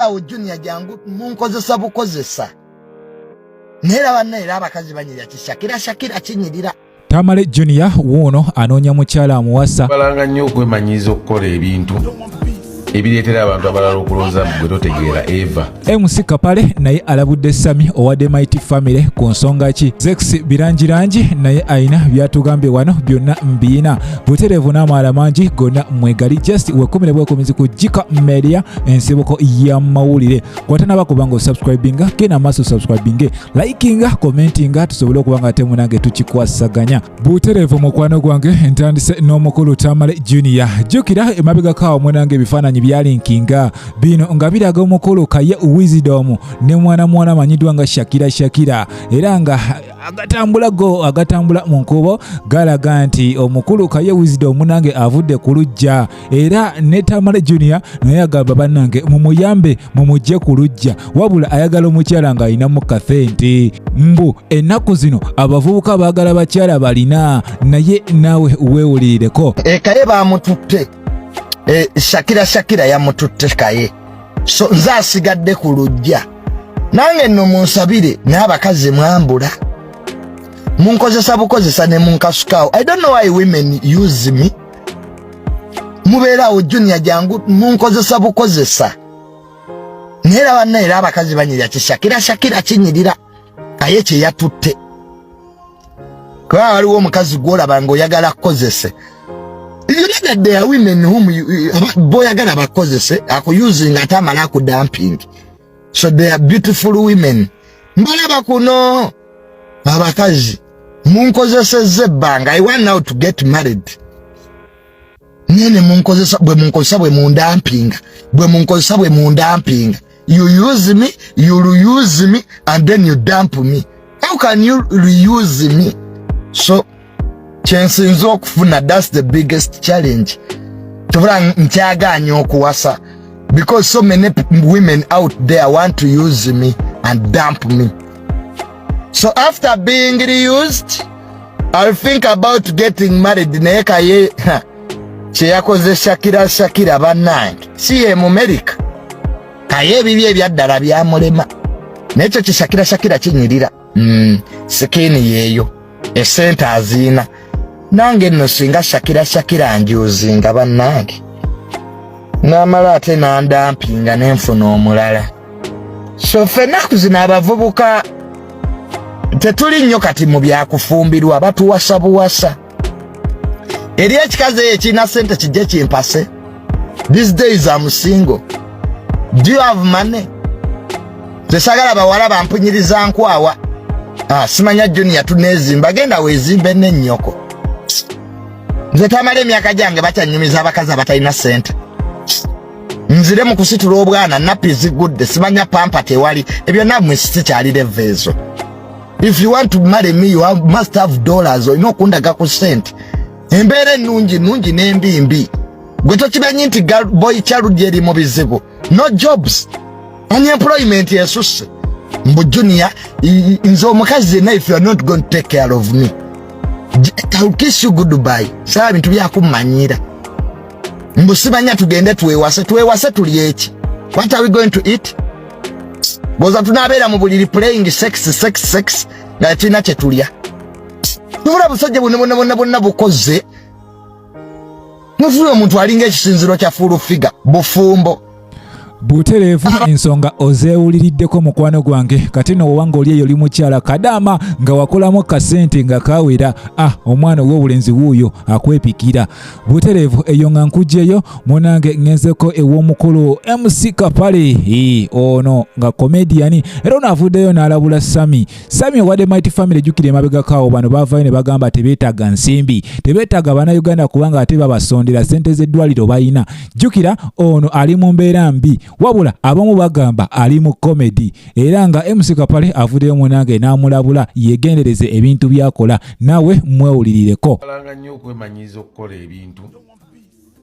awo junior jangu munkozesa bukozesa naye era banna era abakazi banyirira kishakira shakira kinyirira tamale junior wuuno anoonya mukyala amuwasa balanga nnyo okwemanyiiza okukola ebintu ebireetera abantu abalala okulooza mu gwe totegeera eva mc kapale naye alabudde sami owa demit family ku nsonga ki zex birangirangi naye alina byatugambye wano byonna mbiina butereevu n'amaala mangi gonna mwegali just wekumire bwekumizi ku jika media ensibuko y'amawulire kwatanaba kuba nga osubscribinga genda maaso subscribinge likinga commentinga tusobole okuba nga temu nange tukikwasaganya butereevu mukwano gwange ntandise n'omukulu tamale junior jjukira emabegako awo munange ebifaananyi byalinkinga bino nga biraga omukulu kaye wisdom ne mwana mwana amanyiddwa nga shakira shakira era nga agatambula go agatambula mu nkuubo galaga nti omukulu kaye wizide omunange avudde ku lujja era ne tamale junior naye agamba bannange mumuyambe mumugye ku lujja wabula ayagala omukyala ng'alinamu kathenti mbu ennaku zino abavubuka baagala bakyala balina naye naawe weewulirireko ekaye baamututte eh, shakira shakira yamututte kaye so nze asigadde ku lujja nange nno munsabire naye abakazi mwambula munkozesa bukozesa ne munkasukaawo i don't know why women use me mubeeraawo junior jangu munkozesa bukozesa naye era banna era abakazi banyirira kishakira shakira kinyirira naye kye yatutte kubanga waliwo omukazi gwolaba nga oyagala kukozese boyagala bakozese akuyuzi nga ate amala akudamping so they are beautiful women mbalaba kuno abakazi munkozesezza ebbanga i want now to get married naye ne munkozesa bwe munkozesa bwe mundampinga bwe munkozesa bwe mundampinga you use me you reuse me and then you dump me how can you reuse me so kyensinza okufuna that's the biggest challenge tubula nkyaganya okuwasa because so many women out there want to use me and dump me so after being reused I'll think about getting married naye kaye kyeyakoze Shakira Shakira banange si ye mu America kaye ebibi ebyaddala byamulema nekyo kishakira shakira kinyirira mm, sikini yeyo esente aziina nange nno singa shakira shakira njuuzinga bannange n'amala ate n'andampinga ne nfuna omulala so ffe ennaku zino abavubuka tetuli nnyo kati mu byakufumbirwa batuwasa buwasa eri ekikazi eyo kirina ssente kijje kimpase these days am single do you have money tesagala bawala bampunyiriza nkwawa ah, simanya junior tunezimba genda wezimbe nenyoko nze tamala emyaka gyange bakyanyumiza abakazi abatalina sente nzire mu kusitula obwana nappi zigudde simanya pampa tewali ebyo namwe sikyali leva ezo if you want to marry me you have, must have dollars olina okundaga ku sente embeera ennungi nnungi n'embi mbi gwe tokimanyi nti boy child eri mu bizibu no jobs unemployment esusse mbu junior nze omukazi yenna if you are not going to take care of me I'll kiss you goodbye saba bintu byakummanyira mbu simanya tugende twewase twewase tuli eki what are we going to eat boza tunabeera mu buliri playing sex sex sex nga tulina kye tulya mubula busajja bwonna bwonna bwonna bwonna bukoze mufuula omuntu alinga ekisinziro kya fuulu figa bufumbo butereevu ensonga ozeewuliriddeko mukwano gwange kati no wowanga oli eyo oli mukyala kadaama nga wakolamu kasente nga kawera ah omwana ow'obulenzi wuuyo akwepikira butereevu eyo nga nkugyeyo munange ŋenzeko ew'omukulu mc kapale ono nga komediyani era ono avuddeyo n'alabula sami Sami owade Mighty Family jukira emabega kawo bano bavayo ne bagamba tebetaga nsimbi tebetaga bana Uganda kubanga ate babasondera sente z'eddwaliro bayina jukira ono ali mu mbeera mbi wabula abamu bagamba ali mu comedy era nga MC Kapale avudeyo munange n'amulabula yegendereze ebintu byakola nawe mwewulirireko alanga nnyo okwemanyiiza okukola ebintu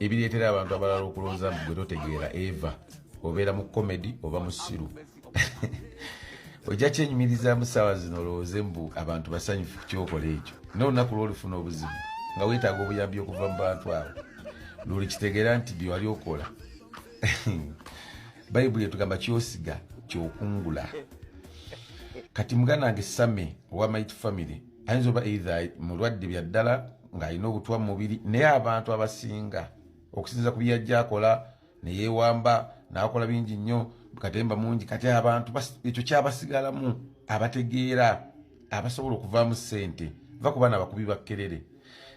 ebireetera abantu abalala okulowooza mbu gwe totegeera eva obeera mu comedy oba musiru ojja kyenyumirizaamu saawa zino olowooze mbu abantu basanyufu kukyokola ekyo nolunaku lwolufuna obuzibu nga wetaaga obuyambi okuva mu bantu abo luli kitegeera nti byewali okola bayibuli etugamba kyosiga kyokungula kati muganange same owa might family ayinza oba eitha mulwadde byaddala ng'alina obutwa mu mubiri naye abantu abasinga okusinza ku byeyajja akola neyewamba nakola bingi nnyo katemba mungi kati abantu ekyo kyabasigalamu abategeera abasobola okuvaamu sente va ku baana abakubi bakkerere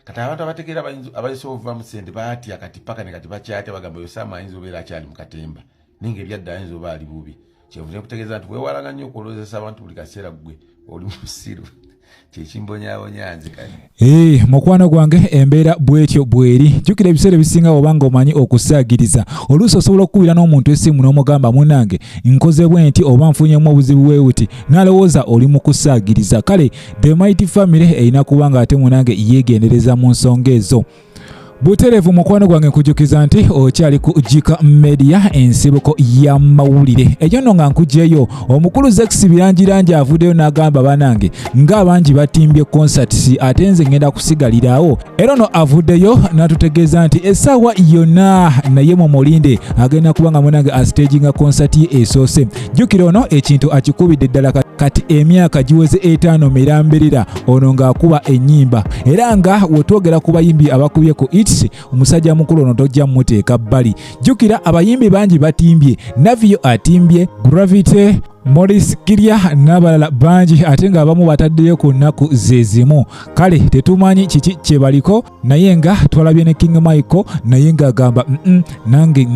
kati abantu abategeera abayisobola okuvaamu sente batya kati paka ne kati bakyatya bagamba oyo saama ayinza obeera akyali mu katemba naye nga ebyadde ayinza oba ali bubi kyevuze nkutegeeza nti wewalanga nnyo okulozesa abantu buli kaseera ggwe oli musiru kyekimbonyabonya nze kati eh, mukwano gwange embeera bwetyo bweri jjukira ebiseera ebisinga oba nga omanyi okusaagiriza oluusi osobola okukubira n'omuntu esimu n'omugamba munange nkoze bwe nti oba nfunyemu obuzibu bwe buti nalowooza oli mu kusaagiriza kale the mighty family erina kuba nga ate munange yeegendereza mu nsonga ezo buterevu mukwano gwange nkujukiza nti okyali ku jika media ensibuko ya mawulire ejo no nga nkujeyo omukulu zex birangirangi avudeyo n'agamba banange nga bangi batimbye concerts ate nze ngenda kusigalirawo era no avudeyo natutegeeza nti esaawa yonna naye mu mulinde agenda kuba nga munange astaginga concert ye esoose jjukira ono ekintu akikubidde ddala kati emyaka giweze etaano mirambirira ono ng'akuba ennyimba era nga wetwogera ku bayimbi abakubye ku its omusajja mukulu ono tojja mumuteeka bbali jjukira abayimbi bangi batimbye naviyo atimbye gravity Morris Kirya n'abalala bangi ate ng'abamu bataddeyo ku nnaku ze zimu kale tetumanyi kiki kye baliko naye nga twalabye ne King Michael naye ng'agamba nange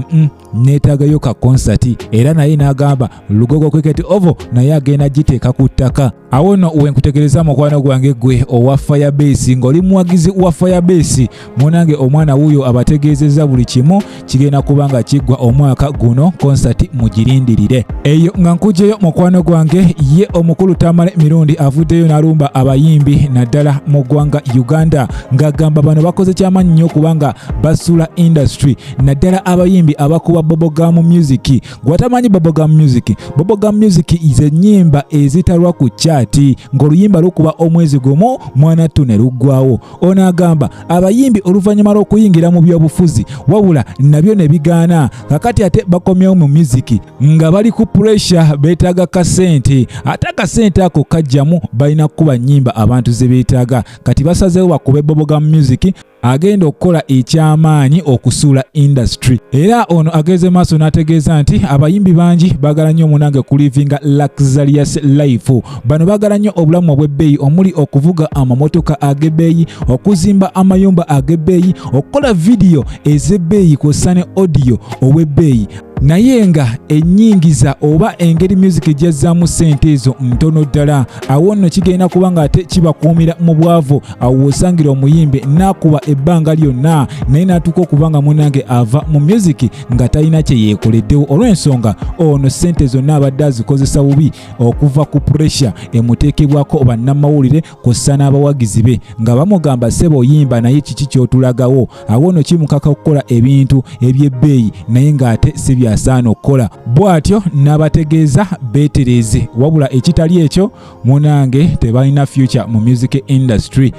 neetaagayo ka konsati era naye n'agamba lugogo cricket ovo naye agenda giteeka ku ttaka awo no wenkutegereza mukwano gwange gwe owa firebase ng'oli muwagizi wa firebase munange omwana wuuyo abategeezezza buli kimu kigenda kuba nga kiggwa omwaka guno konsati mugirindirire eyo nga nkujeyo mukwano gwange ye omukulu tamale mirundi avuddeyo n'alumba abayimbi naddala mu ggwanga uganda ng'agamba bano bakoze kyamaanyi nnyo kubanga basula industry naddala abayimbi abakuba bobogamu music gwatamanyi bobogamu music bobogamu music zenyimba ezitalwa ku kyati ng'oluyimba lukuba omwezi gumu mwanattu ne luggwawo ono agamba abayimbi oluvannyuma lw'okuyingira mu byobufuzi wabula nabyo ne bigaana kakati ate bakomyewo mu miziki nga bali ku puresha beetaaga kasente ate akasente ako kajjamu balina kukuba nnyimba abantu ze beetaaga kati basazeewo bakube bobogamu music agenda okukola eky'amaanyi okusuula industry era ono ageze maaso n'ategeeza nti abayimbi bangi bagala nnyo munange kulivinga luxurious life bano bagala nnyo obulamu obw'ebbeeyi omuli okuvuga amamotoka ag'ebbeeyi okuzimba amayumba ag'ebbeeyi okukola vidiyo ez'ebbeeyi kw'ossa ne odiyo ow'ebbeeyi naye nga ennyingiza oba engeri music ejyazzaamu ssente ezo ntono ddala awo nno kigenda kuba ng'ate kibakuumira mu bwavu awo wosangira omuyimbi nakuba ebbanga lyonna naye natuuka okuba nga munange ava mu myuziki nga talina kye yeekoleddewo olw'ensonga ono ssente zonna abadde azikozesa bubi okuva ku puresha emuteekebwako bannamawulire kussa n'abawagizi be nga bamugamba seba oyimba naye kiki ky'otulagawo awo no kimukaka okukola ebintu eby'ebbeeyi naye ng'ate si byasaana okukola bw'atyo n'abategeeza beetereeze wabula ekitali ekyo munange tebalina future mu music industry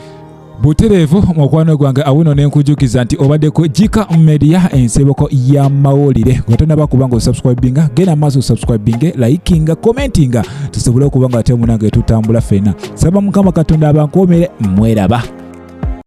butereevu mukwano gwange awuno nenkujukiza nti obaddeko jika media ensibuko ya mawulire wetonaba kuba nga osubscribinga genda maaso osubscribinge likinga commentinga tusobole okuba nga ate munange tutambula fena saba mukama katonda abankuumire mweraba